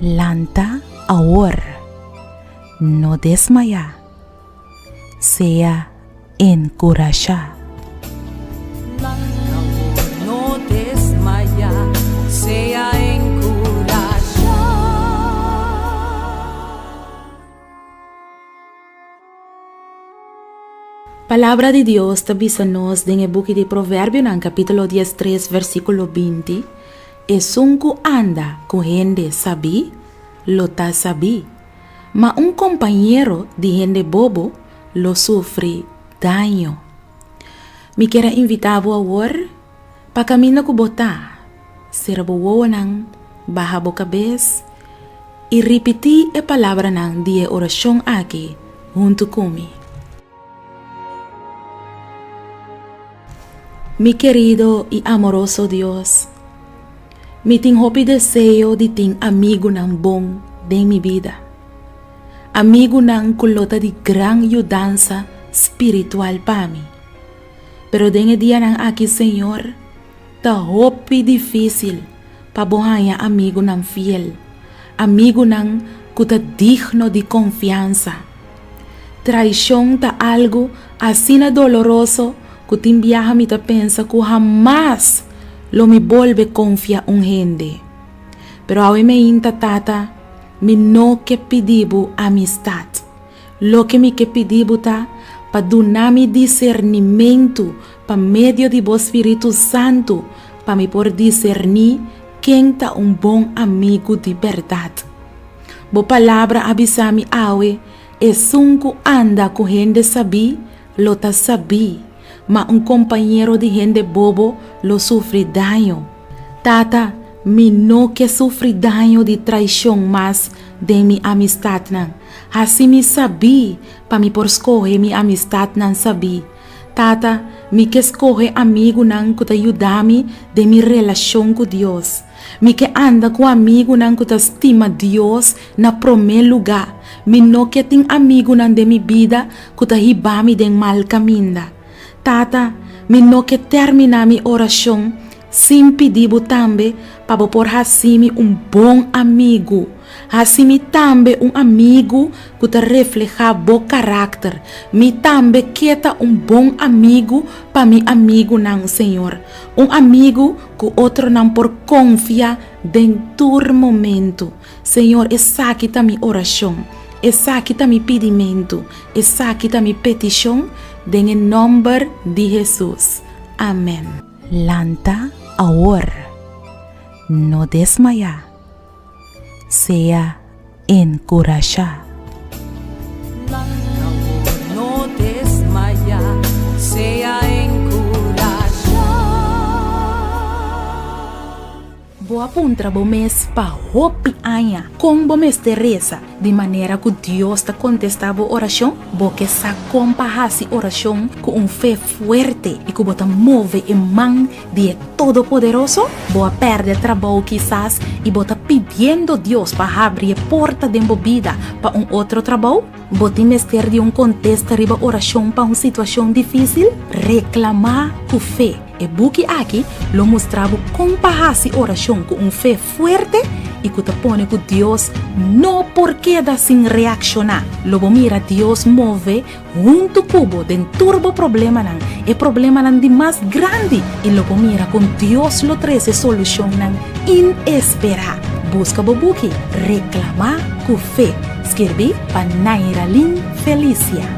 Lanta awor, no desmaya. sea enkurashá. Palabra di Dios ta bisa nos den e buki di Proverbionan capítulo dies tres versículo binti, Esun cu anda cu hende sabí, lo ta sabí, Ma un kompañero di hende bobo lo sufri daño. Mi kier a invitá bo awor pa kaminda ku bo ta, sera bo wowonan, baha bo kabes i ripití e palabranan di e orashon akí huntu ku mi. Mi kerido i amoroso Dios, mi tin hopi deseo di tin amigunan bon den mi bida, amigunan ku lo ta di gran yudansa spiritual pa mi. Pero den e dianan aki, señor, Ta hopi difísil pa bo haña amigunan fiel, amigunan ku ta digno di konfiansa. Traishon ta algu asina doloroso ku tin biaha mi ta pensa ku hamas lo mi bolbe konfia un hende. Pero awe mi a yinta tata, mi no ke pidi bo amistat. Loke mi ke pidi bo ta pa duna mi disernimentu pa medio di bo Spiritu Santu, pa mi por diserní ken ta un bon amigu di bèrdat. Bo palabra a bisa mi awe, Esun ku anda ku hende sabí, lo ta sabí. ma un kompañero di hende bobo lo sufri daño. Tata, mi no ke sufri daño di traishon mas den mi amistatnan. Hasi mi sabí pa mi por skohe mi amistatnan sabí. Tata, mi ke skohe amigunan ku ta yuda mi den mi relashon ku Dios. Mi ke anda ku amigunan ku ta stima Dios na promé lugá. Mi no ke tin amigunan den mi bida ku ta hiba mi den mal kaminda. Tata, mi no ke tèrminá mi orashon sin pidi Bo tambe pa Bo por hasi mi un bon amigu. Hasi mi tambe un amigu ku ta reflehá Bo karakter. Mi tambe ke ta un bon amigu pa mi amigunan, señor. Un amigu Ku otronan por konfia den tur momentu. Señor, esaki ta mi orashon, esaki ta mi pidimentu, esaki ta mi petishon den e nòmber di Hesus. Amèn. Lanta awor. No desmayá. sea enkurashá. Bo a puntra bo mes pa hopi aña kon bo mester resa di manera ku Dios ta kontestá bo orashon? Bo ke sa kon pa hasi orashon ku un fe fuerte i ku bo ta move e man di e Todopoderoso? Bo a pèrdè trabou kisas i bo ta pidiendo Dios pa habri e porta den bo bida pa un otro trabou? Bo tin mester di un kontesta riba orashon pa un situashon difísil? Reklamá ku fe. E buki aki lo mustra bo kon pa hasi orashon ku un fe fuerte i ku ta pone ku Dios no por keda sin reakshoná. Lo bo mira Dios move. huntu ku bo den tur bo problemanan, e problemanan di mas grandi, i lo bo mira kon Dios lo trese solushonnan inesperá. Buska bo buki Reklamá ku fe, skirbí pa Nairalin Felicia.